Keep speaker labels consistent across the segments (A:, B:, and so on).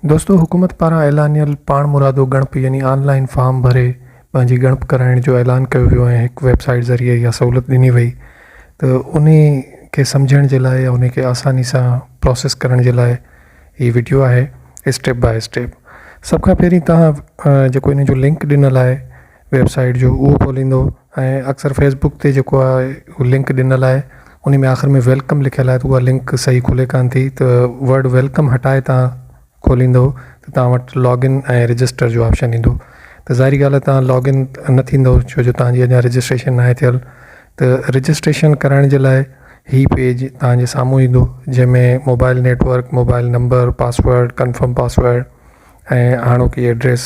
A: دوستو حڪومت پاران اعلانيل پاڻمرادو ڳڻپ يعني آن لائن فارم ڀري پنهنجي ڳڻپ ڪرائڻ جو اعلان ڪيو ويو ۽ هڪ ويب سائيٽ ذريعي اها سهولت ڏني وئي ته انهي کي سمجهڻ جي لاء يا انهي کي آساني سان پروسيس ڪرڻ جي لاء هي وڊيو آهي اسٽيپ باء اسٽيپ سڀ کان پهرين تهان جيڪو ان جو لنڪ ڏنل آهي ويب سائيٽ جو اهو کوليندو ۽ اڪثر فيس بڪ تي جيڪو آهي اهو لنڪ ڏنل آهي ان ۾ آخر ۾ ويلڪم لکيل آهي ته اها لنڪ صحيح کلي ڪانه ٿي ته ورڊ ويلڪم هٽائي تان کوليندو ته تان وٽ لاگن ۽ رجسٽر جو آپشن ايندو ته ظاهري ڳالهه تان لاگن نه ٿيندو ڇو جو تان جي اڃان رجسٽريشن ناهي ٿيل ته رجسٽريشن ڪرائڻ جي لاء هي پيج تان جي سامهون ايندو جنهن ۾ mobile network mobile number password confirm password ۽ هاڻوڪي ايڊريس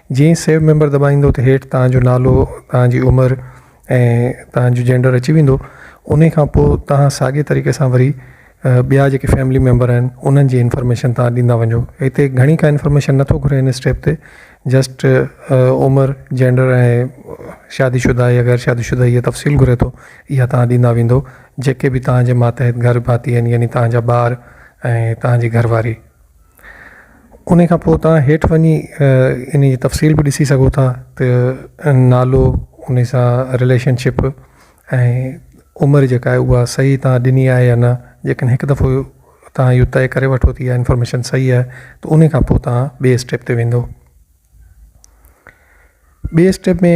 A: جيئن ئي سيو ميمبر دٻائيندو ته هيٺ توهان جو نالو، توهان جي عمر ۽ توهان جو جينڊر اچي ويندو. انهي کان پوء توهان ساڳي طريقي سان وري ٻيا جيڪي فيملي ميمبر آهن انهن جي انفارميشن توهان ڏيندا وڃو. هتي گهڻي ڪا انفارميشن نه ٿو گهري هن اسٽيپ تي جسٽ عمر، جينڊر ۽ شادي شده آهي يا غير شادي شده هي تفصيل گهري ٿو اها توهان ڏيندا ويندو جيڪي به توهان جي ماتحت گهر ڀاتي آهن يعني توهان جا ٻار ۽ توهان جي گهر واري. انهي کان پوء تهان هيٺ وڃي انهي جي تفصيل به ڏسي سگهو ٿا ته نالو انهي سان رليشن شپ ۽ عمر جيڪا آهي اها صحيح تهان ڏني آهي يا نه جيڪڏهن هڪ دفعو تهان اهو طئي ڪري وٺو ته اها انفارميشن صحيح آهي ته انهي کان پوء تهان ٻي اسٽيپ تي ويندو ٻي اسٽيپ ۾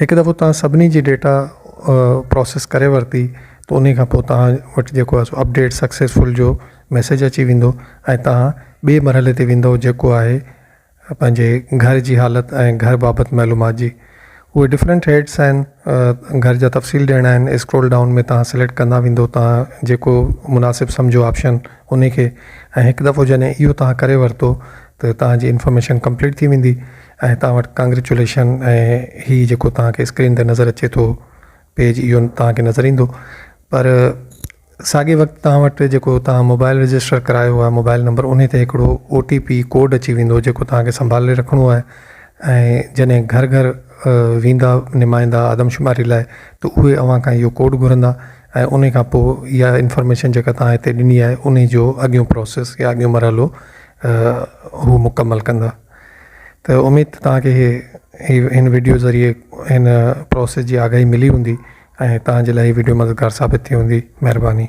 A: هڪ دفعو توهان سڀني جي ڊيٽا پروسيس ڪري ورتي ته انهي کان پوء توهان وٽ جيڪو آهي سو اپڊيٽ سڪسيسفل جو ميسيج اچي ويندو ۽ توهان ٻي مرحلي تي ويندو جيڪو آهي پنهنجي گهر جي حالت ۽ گهر بابت معلومات جي اهي ڊفرنٽ هيڊس آهن گهر جا تفصيل ڏيڻا آهن اسڪرول ڊائون ۾ توهان سليڪٽ ڪندا ويندو توهان جيڪو مناسب سمجهو آپشن انهي کي ۽ هڪ دفعو جڏهن اهو توهان ڪري ورتو ته توهان جي انفارميشن ڪمپليٽ ٿي ويندي ۽ توهان وٽ ڪانگريچوليشن ۽ هي جيڪو توهان کي اسڪرين تي نظر اچي ٿو پيج اهو توهان کي نظر ايندو پر ساڳي وقت توهان وٽ جيڪو توهان موبائل رجسٽر ڪرايو آهي موبائل نمبر ان تي هڪڙو او ٽي پي ڪوڊ اچي ويندو جيڪو توهان کي سنڀالي رکڻو آهي ۽ جڏهن گهر گهر ويندا نمائندا آدمشماري لاء ته اهي اوهان کان اهو ڪوڊ گهرندا ۽ ان کان پوء اها انفارميشن جيڪا توهان هتي ڏني آهي ان جو اڳيون پروسيس يا اڳيون مرحلو هو مڪمل ڪندا ته اميد ته توهان کي هي هي هن ويڊيو ذريعي هن پروسيس جي آگاهي ملي هوندي ۽ توهان جي لاء هي ويڊيو مددگار ثابت ٿي هوندي مهرباني